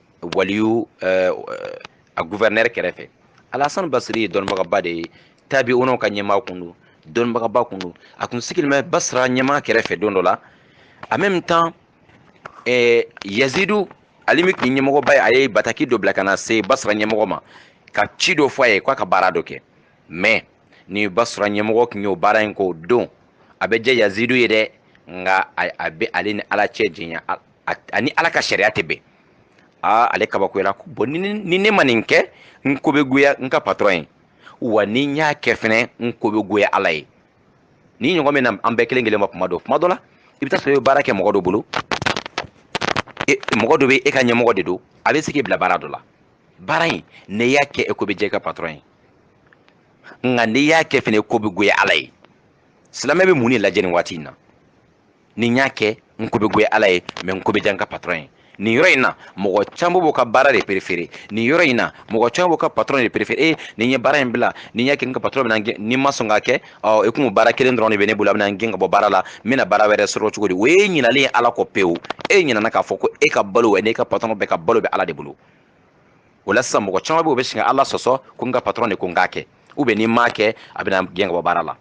waliyu eh, a gouverneur kɛrɛfɛ alasani basiri ye dɔnnibagaba de ye tabi'unaw ka ɲɛmaa kun don dɔnnibagaba kun don a kun sigilen bɛ basira ɲɛmaa kɛrɛfɛ don dɔ la en même temps eh, yazidu ale min kun ye ɲɛmɔgɔba ye a ye bataki dɔ bila ka na se basira ɲɛmɔgɔ ma ka ci dɔ fɔ a ye k'a ka baara dɔ kɛ mais ni basira ɲɛmɔgɔ kun y'o baara in k'o don a bɛ diya yazidu ye dɛ nka a a bɛ ale ni ala cɛ janya ani ala ka sariya tɛ bɛn aa ale kabakoyara ko bon ni ne ma nin kɛ n ko bɛ goya n ka patɔrɔn ye wa ni n y'a kɛ fɛnɛ n ko bɛ goya ala ye nin ɲɔgɔn bɛ na an bɛɛ kelen kelen ma kuma dɔ kuma dɔ la i bɛ taa sɔrɔ i bɛ baara kɛ mɔgɔ dɔ bolo e, mɔgɔ dɔ bɛ e ka ɲɛmɔgɔ de don a bɛ se k'i bila baara dɔ la baara in n'e y'a kɛ e ko bɛ diya i ka patɔrɔn ye nka n'i y'a kɛ fɛnɛ ko bɛ goya ala ye silamɛ bɛ mun de lajɛ nin waati in na ni n y'a kɛ n ko bɛ goya ala ye mais n ko bɛ diya n ka patɔrɔn ye nin yɔrɔ in na mɔgɔ caman b'o ka baara de préféré nin yɔrɔ in na mɔgɔ caman b'o ka patɔrɔn de préféré e ni n ye baara in bila ni n y'a kɛ n ka patɔrɔn bɛna n gɛn ni n ma sɔn k'a kɛ ɔ e kun baara kelen dɔrɔn de bɛ ne bolo a bɛna n gɛn ka bɔ baara la n bɛna baara wɛrɛ sɔrɔ cogo di o ye ɲinalen ye ala kɔ pewu e ɲinana k'a fɔ ko e ka balo n'e ka patɔrɔn bɛɛ ka balo bɛ ala de bolo o la sisan mɔgɔ caman bɛ o bɛ sin ka ala sɔsɔ ko n ka patɔrɔn de ko n k'a kɛ ou bien ni n m'a kɛ a bɛna n gɛn ka bɔ baara la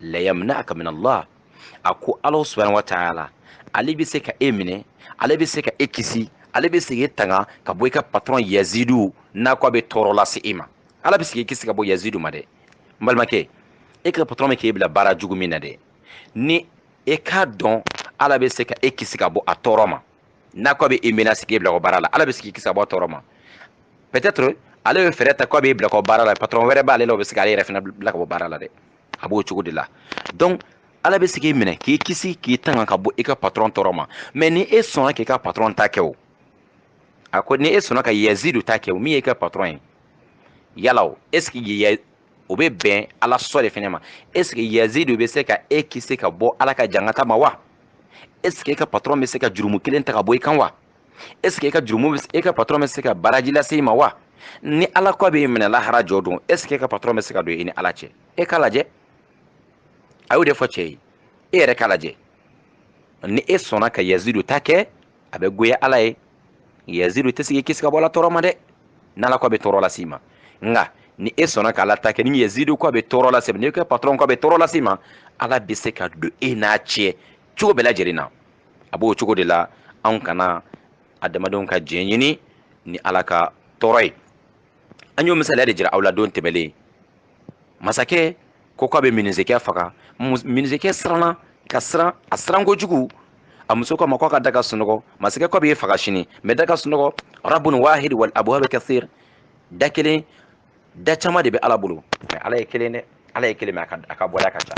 layamna'aka min Allah a ko Ala subhanahu wa ta'ala ale bɛ se ka e minɛ ale bɛ se ka e kisi ale bɛ se k'i tanga ka bɔ i ka patron yazidu n'a ko a bɛ tɔɔrɔ lase e ma ala bɛ se k'i kisi ka bɔ yazidu ma dɛ n balimakɛ e ka patron bɛ k'e bila baara jugu min na dɛ ni e k'a dɔn ala bɛ se ka e kisi ka bɔ a tɔɔrɔ ma n'a ko a bɛ e menacer k'i bila ka bɔ baara la ala bɛ se k'i kisi ka bɔ a tɔɔrɔ ma peut-être ale bɛ fɛɛrɛ ta ko a b'i bila ka bɔ baara la patron wɛrɛ b'ale la o bɛ se k'ale yɛrɛ fana bila ka bɔ baara la dɛ a b'o cogo de la donc ala bɛ se k'i minɛ k'i kisi k'i tanga ka bɔ i ka patron tɔɔrɔ ma mais ni e sɔnna k'i ka patron ta kɛ o a ko ni e sɔnna ka yazidu ta kɛ o min ye i ka patron ye yala o est ce que o bɛ bɛn ala sɔ de fana ma est ce que yazidu bɛ se ka e kisi ka bɔ ala ka jankata ma wa est ce que e ka patɔrɔn bɛ se ka jurumu kelen ta ka bɔ i kan wa est ce que e ka jurumu e ka patɔrɔn bɛ se ka baraji lase i ma wa ni ala ko a b'i minɛ lahara jɔ don est ce que e ka patɔrɔn bɛ se ka don i ni ala cɛ e k'a lajɛ a y'o de fɔ cɛ ye e yɛrɛ k'a lajɛ ni e sɔnna ka yazidu ta kɛ a bɛ goya ala ye yazidu tɛ se k'i kisi ka bɔ ala tɔɔrɔ ma dɛ n'ala ko a bɛ tɔɔrɔ las'i ma nka ni e sɔnna k'ala ta kɛ ni yazidu ko a bɛ tɔɔrɔ lase i ma n'i ka patɔrɔn ko a bɛ tɔɔrɔ lase i ma ala bɛ se ka don e n'a cɛ cogo bɛɛ lajɛlen na a b'o cogo de la anw kana adamadenw ka diɲɛ ɲini ni ala ka tɔɔrɔ ye an y'o misaliya de jira aw la don tɛmɛlen masakɛ ko k'a bɛ minisekɛ faga minisekɛ siranna ka siran a siran kojugu a muso k'a ma k'a ka da ka sunɔgɔ masakɛ k'a b'i faga sini mais da ka sunɔgɔ rabun wahid wal abwab kathir da kelen da caman de bɛ ala bolo mais ala ye kelen dɛ ala ye kelen mais a ka bɔda ka ca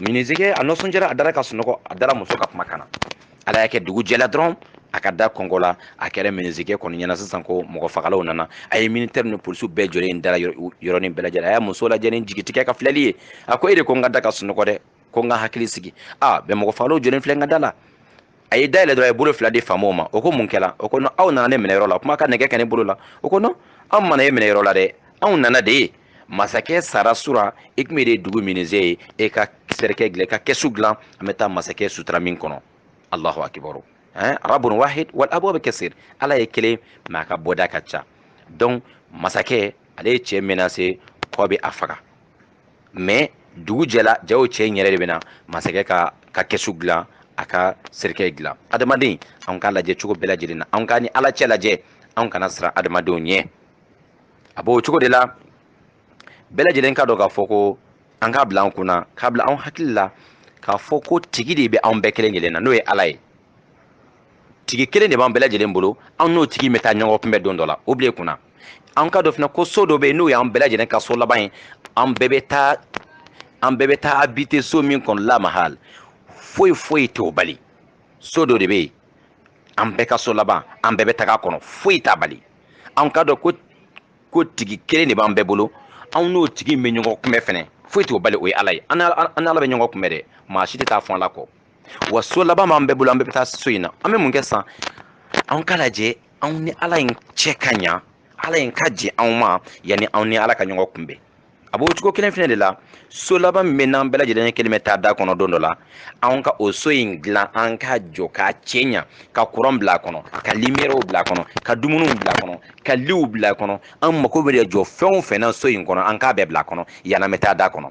minizikɛ a nisɔndiyara a dara ka sunɔgɔ a dara muso ka kumakan na ala y'a kɛ dugu jɛla dɔrɔn a ka da kɔnkɔnna a kɛra minizikɛ kɔni ɲɛ na sisan ko mɔgɔ fagalaw nana a ye militɛri ni polisiw bɛɛ jɔlen da la yɔrɔnin bɛɛ lajɛlen a y'a muso lajɛ ni jigitigɛ ka filɛli ye a ko e de ko n ka da ka sunɔgɔ dɛ ko n ka hakili sigi a bɛn mɔgɔ fagalaw jɔlen filɛ n ka da la a ye da yɛlɛ dɔrɔn a ye bolo fila di faamaw ma o ko mun kɛra o ko non aw nana ne minɛ yɔrɔ la kuma ka nɛgɛ kɛ ne bolo la o ko non an ma na e minɛ yɔrɔ la dɛ anw nana de masakɛ sara sura i komi e de dugu minise ye e ka cercueil dilan i ka kɛsu dilan an bɛ taa masakɛ sutura min kɔnɔ alahu akibaru hein? rabun wahid wal abwab kathir ala ye kelen mais a ka bɔda ka ca donc masakɛ ale ye cɛ menacer ko a b'a faga mais dugu jɛla jaw cɛ in yɛrɛ de bɛna masakɛ ka kɛsu dilan a ka serikɛ dilan adamaden anw ka lajɛ cogo bɛɛ lajɛlen na anw ka ni ala cɛ lajɛ anw kana siran adamadenw ɲɛ a b'o cogo de la bɛɛ lajɛlen k'a dɔn k'a fɔ ko an k'a bila an kunna k'a bila anw hakili la k'a fɔ ko tigi de bɛ anw bɛɛ kelen kelen na n'o ye ala ye tigi kelen de b'an bɛɛ lajɛlen bolo an n'o tigi bɛ taa ɲɔgɔn kunbɛn don dɔ la o bila i kunna an k'a dɔn fana ko so dɔ bɛ yen n'o y'an bɛɛ lajɛlen ka so laban ye an bɛɛ bɛ taa habiter so min kɔnɔ la mahal foyi foyi t'o bali so dɔ de bɛ yen an bɛɛ ka so laban an bɛɛ bɛ taga a kɔnɔ foyi t'a bali an k'a dɔn ko tigi kelen de b'an bɛɛ bolo anw n'o tigi bɛ ɲɔgɔn kunbɛn fɛnɛ foyi t'o bali o ye ala ye an n'ala bɛ ɲɔgɔn kunbɛn dɛ maa si tɛ taa fɔ ala kɔ wa so laban b'an bɛɛ bolo an bɛɛ bɛ taa so in na an bɛ mun kɛ san anw ka lajɛ anw ni ala in cɛ ka ɲa ala in ka jɛ anw ma yanni anw ni ala ka ɲɔgɔn kunbɛn a b'o cogo kelen fɛnɛ de la so laban min bɛ n'an bɛɛ lajɛlen ye kelen bɛ taa da kɔnɔ don dɔ la anw ka o so in dilan an ka jɔ k'a cɛɲa ka kuran bila a kɔnɔ ka limiyɛriw bila a kɔnɔ ka dumuniw bila a kɔnɔ ka liw bila a kɔnɔ an mago bɛ jɔ fɛn o fɛn na so in kɔnɔ an k'a bɛɛ bila a kɔnɔ yann'an bɛ taa da kɔnɔ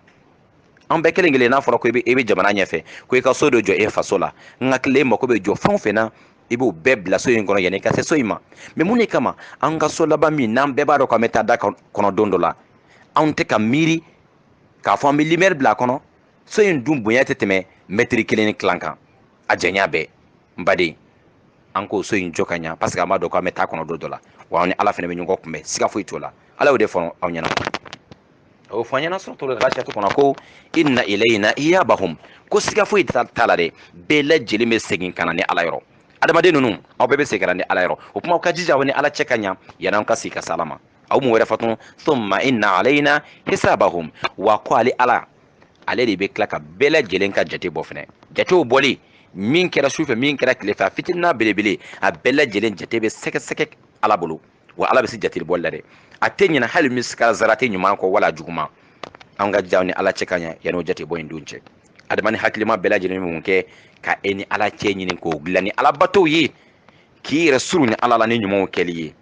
an bɛɛ kelen kelen n'a fɔra ko i bɛ jamana ɲɛfɛ ko i ka so dɔ jɔ e faso la n hakili e mako bɛ jɔ fɛn o fɛn na i b'o bɛɛ bila so in kɔnɔ yanni i ka se so in ma mais mun de kama an ka so laban min n'an bɛɛ b'a dɔn k'an bɛ taa da kɔnɔ don dɔ la anw tɛ ka miiri k'a fɔ an bɛ limɛri bila a kɔnɔ so in dun bonya tɛ tɛmɛ mɛtiri kelen ni tilan kan a janya bɛɛ n baden an k'o so in jɔ ka ɲa parce que an b'a dɔn k'an bɛ taa kɔnɔ don dɔ la wa an ni ala fana bɛ ɲɔgɔn kunbɛn siga foyi t'o la ala y'o de fɔ aw ɲɛna a y'o fɔ an ɲɛna suratul ghashiyatu kɔnɔ ko inna ilayna iyabahum ko siga foyi t'a la dɛ bɛɛ lajɛlen bɛ segin ka na ne ala yɔrɔ adamaden ninnu aw bɛɛ bɛ segin ka na ne ala yɔrɔ o kuma aw ka jija aw ni ala cɛ ka ɲa yanni aw ka segin ka se ala ma a ye mun wɛrɛ fɔ tun thumma inna alayna hisabahum wa ko ale ala ale de bɛ tila ka bɛɛ lajɛlen ka jate bɔ fɛnɛ jate bɔli min kɛra sufɛ min kɛra tile fɛ a fitinin n'a belebele a bɛɛ lajɛlen jate bɛ sɛgɛsɛgɛ ala bolo wa ala bɛ se jateli bɔli la dɛ a tɛ ɲinɛ hali misikala zarati ɲuman kɔ wala juguman an ka jija an ni ala cɛ ka ɲa yanni o jate bɔ in don cɛ adamaden hakilima bɛɛ lajɛlen bɛ mun kɛ ka e ni ala cɛ ɲini k'o dilan ni ala batow ye k'i yɛrɛ surunya ala la ni ɲumanw kɛli ye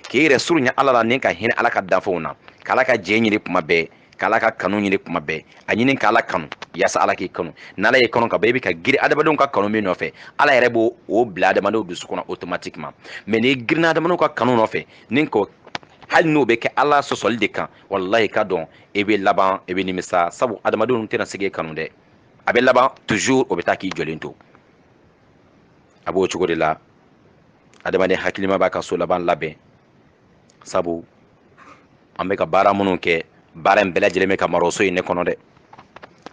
k'i yɛrɛ surunya ala la ni ka hinɛ ala ka danfɛnw na k'ala ka jɛ ɲini kuma bɛɛ k'ala ka kanu ɲini kuma bɛɛ a ɲini k'ala kanu yaasa ala k'i kanu n'ala y'i kanu ka ban i bɛ ka girin adamadenw ka kanu min nɔfɛ ala yɛrɛ b'o o bila adamadenw dusu kɔnɔ automatiquement mais n'i girinna adamadenw ka kanu nɔfɛ ni k'o hali n'o bɛ kɛ ala sɔsɔli de kan walahi k'a dɔn i bɛ laban i bɛ nimisa sabu adamadenw tɛna se k'e kanu dɛ a bɛ laban toujours o bɛ taa k'i jɔlen to a b'o cogo de la adamaden hakilima b'a ka so laban labɛn sabu an bɛ ka baara minnu kɛ baara in bɛɛ lajɛlen bɛ ka mara o so in de kɔnɔ dɛ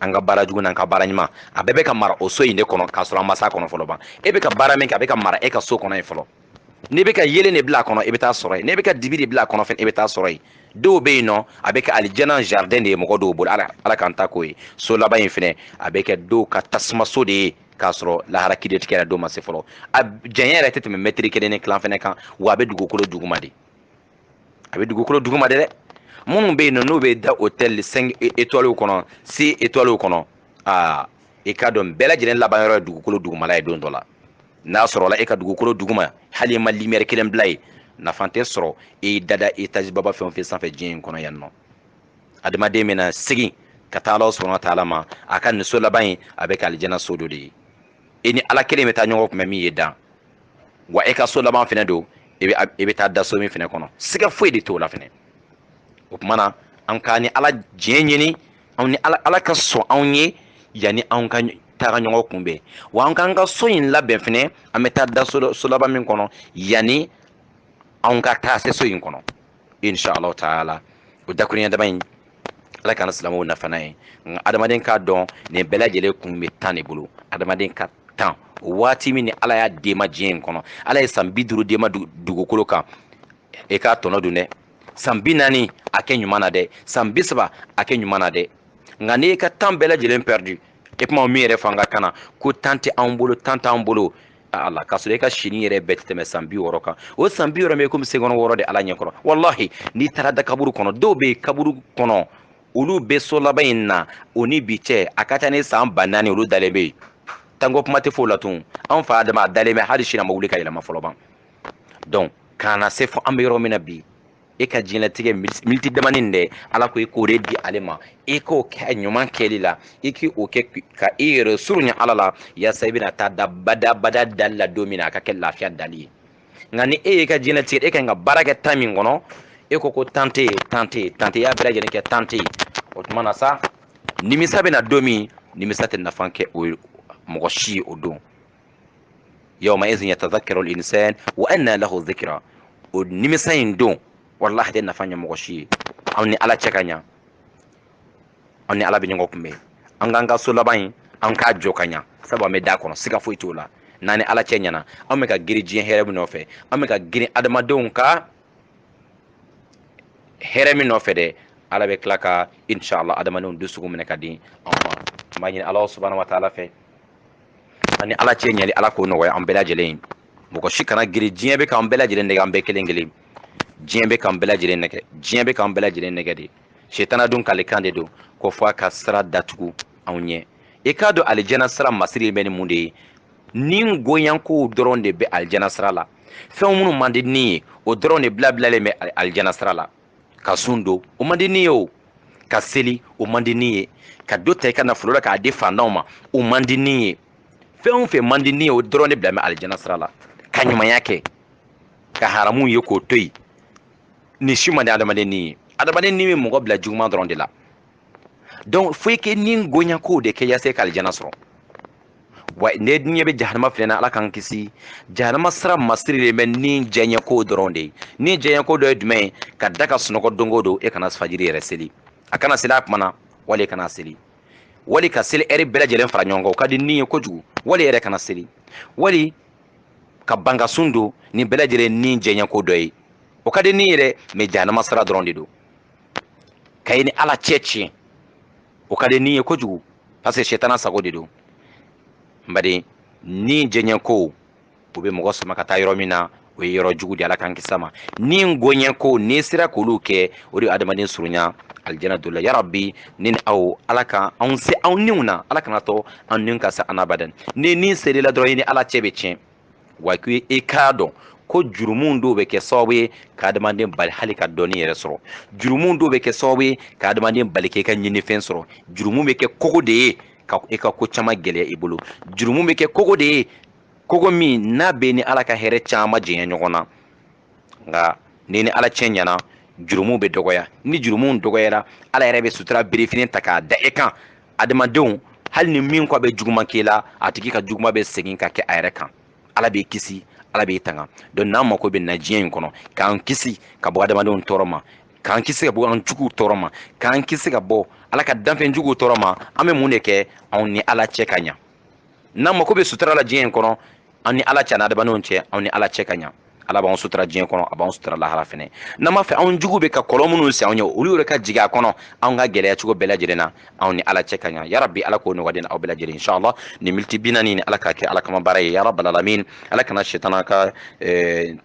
an ka baara jugu n'an ka baara ɲuman a bɛɛ bɛ ka mara o so in de kɔnɔ k'a sɔrɔ an ma s'a kɔnɔ fɔlɔ ban e bɛ ka baara min kɛ a bɛ ka mara e ka so kɔnɔ yen fɔlɔ n'i bɛ ka yeelen de bila a kɔnɔ i bɛ taa sɔrɔ yen n'i bɛ ka dibi de bila a kɔnɔ fɛnɛ i bɛ taa sɔrɔ yen dɔw bɛ yen nɔ a bɛ kɛ alijana jardin de ye mɔgɔ dɔw bolo ala k'an ta k'o ye so laban in fɛnɛ a bɛ kɛ dɔw ka tasuma so de ye k'a sɔrɔ lahara kiiritigɛ yɛrɛ don ma se fɔlɔ a janya yɛrɛ tɛ tɛmɛ mɛtiri kelen ni kilan fɛnɛ kan wa a bɛ dugukolo duguma de a bɛ dugukolo duguma de dɛ minnu bɛ yen nɔ n'u bɛ da hôtel cinq étoiles kɔnɔ six étoiles kɔnɔ aa i k'a dɔn bɛɛ lajɛlen laban yɔrɔ ye dugukolo dugumala ye don dɔ la n'a sɔrɔla e ka dugukolo duguma hali i ma lumière kelen bila yen nafa tɛ sɔrɔ i dada étage baba fɛn o fɛn sanfɛ diɲɛ in kɔnɔ yan nɔ adamaden bɛna segin ka taa ala subahana wa taala ma a ka nin so laban in a bɛ kɛ alijana so dɔ de ye e ni ala kelen bɛ taa ɲɔgɔn kunbɛn min ye dan wa e ka so laban fɛnɛ don e bɛ taa da so min fɛnɛ kɔnɔ siga foyi de t'o la fɛnɛ o tuma na an ka ni ala diɲɛ ɲini anw ni ala ala ka sɔn anw ye yanni anw ka taga ɲɔgɔn kunbɛn wa an k'an ka so in labɛn fɛnɛ an bɛ taa da so laban min kɔnɔ yanni anw ka taa se so in kɔnɔ insha Allah taala o dakurunya dama in ala ka na silamɛw nafa n'a ye nka adamaden k'a dɔn nin bɛɛ lajɛlen kun bɛ tan de bolo adamaden ka tan waati min ni ala y'a d'e ma diɲɛ in kɔnɔ ala ye san bi duuru d'e ma dugukolo kan e k'a tɔnɔ dun dɛ san bi naani a kɛ ɲuman na dɛ san bi saba a kɛ ɲuman na dɛ nka n'i ka tan bɛɛ lajɛlen perdu e kuma min yɛrɛ fanga kana ko tan tɛ anw bolo tan t'an bolo a la k'a sɔrɔ e ka si nin yɛrɛ bɛɛ tɛ tɛmɛ san bi wɔɔrɔ kan o san bi wɔɔrɔ ye komi seconde wɔɔrɔ de ala ɲɛ kɔrɔ walahi n'i taara da kaburu kɔnɔ dɔw bɛ kaburu kɔnɔ olu bɛ so laban in na o ni bi cɛ a ka ca ni san ba naani olu dalen bɛ yen tanko kuma tɛ f'o la tun an fa adama a dalen bɛ hali sini a ma wuli ka yɛlɛma fɔlɔ ban donc ka na se fo an bɛ yɔrɔ min na bi e ka diɲɛlatigɛ militi damanin dɛ ala ko i k'o de di ale ma i k'o kɛ ɲuman kɛli la i k'o kɛ ka i yɛrɛ surunya ala la yasa i bɛna taa da bada dali la don min na a ka kɛ lafiya dali ye nka ni e y'i ka diɲɛlatigɛ e ka ɲi ka baara kɛ tan min kɔnɔ e ko ko tan tɛ yen tan tɛ yen tan tɛ yen i y'a bɛɛ lajɛlen kɛ tan tɛ yen o tuma na sa nimisa bɛna don min nimisa tɛ nafa kɛ o mɔgɔ si ye o don yawma'idhin yatadhakkaru al-insan wa anna lahu dhikra o nimisa in don walahi tɛ nafa ɲɛ mɔgɔ si ye an ni ala cɛ ka ɲa an ni ala bɛ ɲɔgɔn kunbɛn an k'an ka so laban in an k'a jɔ ka ɲa sabu an bɛ d'a kɔnɔ siga foyi t'o la n'an ni ala cɛ ɲɛna an bɛ ka girin diɲɛ hɛrɛ min nɔfɛ an bɛ ka girin adamadenw ka hɛrɛ min nɔfɛ dɛ ala bɛ tila ka inshallah adamadenw dusukun minɛ ka di anw ma an b'a ɲini ala subahana wa taala fɛ an ni ala cɛ ɲɛli ala k'o nɔgɔya an bɛɛ lajɛlen ye mɔgɔ si kana girin diɲɛ bɛ k'an bɛɛ lajɛlen nɛgɛ an bɛɛ kelen kelen diɲɛ bɛ k'an bɛɛ lajɛlen nɛgɛ diɲɛ bɛ k'an bɛɛ lajɛlen nɛgɛ de setana dun kalikan de don ko fo a ka sira datugu anw ɲɛ i k'a dɔn alijana sira masiri bɛ ni mun de ye ni goyakow dɔrɔn de bɛ alijana sira la fɛn minnu man di ni ye o dɔrɔn de bilabilalen bɛ alijana sira la ka sun don o man di ni ye o ka seli o man di ni ye ka dɔ ta i ka nafolo la k'a di fantanw ma o man di ni ye fɛn o fɛn man di ni ye o dɔrɔn de bila bɛ alijana sira la ka ɲumanya kɛ ka haramu ye k'o to yen nin si man di adamaden ni ye adamaden ni bɛ mɔgɔ bila juguman dɔrɔn de la donc fo i ka ni goyakow de kɛ yaasa i ka alijana sɔrɔ wa n'e ɲɛ bɛ jahanama fɛnɛ na ala k'an kisi jahanama sira masirilen bɛ ni diyanyeko dɔrɔn de ye ni diyanyeko dɔ ye jumɛn ye ka da ka sunɔgɔ don o don e kana fajiri yɛrɛ seli a kana seli a kuma na wali e kana seli wali ka seli ɛri bɛɛ lajɛlen fara ɲɔgɔn kan o ka di ni ye kojugu wali e yɛrɛ kana seli wali ka ban ka sun don nin bɛɛ lajɛlen ni diyanyeko dɔ ye o ka di ni ye dɛ mais jahanama sira dɔrɔn de don ka i ni ala cɛ tiɲɛ o ka di ni ye kojugu parce que sɛtana sago de don bari ni diyanyeko o bɛ mɔgɔ sama ka taa yɔrɔ min na o ye yɔrɔ jugu de ala k'an kisi a ma ni goyanyekow n'i sera k'olu kɛ o de ye adamaden surunya alijana dola yarabi ne ni aw ala ka anw se anw niw na ala kana to an niw ka se an na abadan ni ni sera i la dɔrɔn i ni ala cɛ bɛ tiɲɛ wa ko i k'a dɔn ko jurumu dɔw bɛ kɛ sababu ye ka adamaden bali hali ka dɔnni yɛrɛ sɔrɔ jurumu dɔw bɛ kɛ sababu ye ka adamaden bali k'e ka ɲinifɛn sɔrɔ jurumu bɛ kɛ kogo de ye ka e ka ko caman gɛlɛya i bolo jurumu bɛ kɛ kogo de ye kogo min n'a b'i ni ala ka hɛrɛ caman janya ɲɔgɔn na nka n'i ni ala cɛ ɲɛna jurumu bɛ dɔgɔya ni jurumu dɔgɔyara ala yɛrɛ bɛ sutura birifini ta k'a da e kan adamadenw hali ni min ko a bɛ juguman k'i la a tigi ka juguman bɛ segin ka kɛ a yɛrɛ kan ala b'i kisi ala b'i tanga donc n'an mako bɛ na diɲɛ in kɔnɔ k'an kisi ka bɔ adamadenw tɔɔrɔ ma k'an kisi ka bɔ an juguw tɔɔrɔ ma k'an kisi ka bɔ ala ka danfɛnjuguw tɔɔrɔ ma an bɛ mun de kɛ anw ni ala cɛ ka ɲa n'an mako bɛ sutura la diɲɛ in kɔnɔ an ni ala cɛ an n'adamadenw cɛ anw ni ala cɛ ka ɲa ala b'anw sutura diɲɛ kɔnɔ a b'anw sutura lahara fɛnɛ n'an b'a fɛ anw juguw bɛ ka kɔlɔn minnu sen anw ye olu yɛrɛ ka jigin a kɔnɔ anw ka gɛlɛya cogo bɛɛ lajɛlen na anw ni ala cɛ ka ɲa yarabi ala k'o nɔgɔya aw bɛɛ lajɛlen inshallah nin miniti bi naani nin ala k'a kɛ ala kama baara ye yarabal alamin ala kana setana ka eh,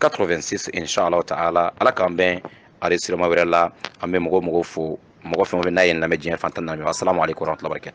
86 inshallah taala ala k'an bɛn enregistrement wɛrɛ la an bɛ mɔgɔ o mɔgɔ fo mɔgɔ fɛn o fɛn n'a y'an lamɛn diɲɛ fan tan ni naani assalamu alaikum warahmatullahi wabarakatuh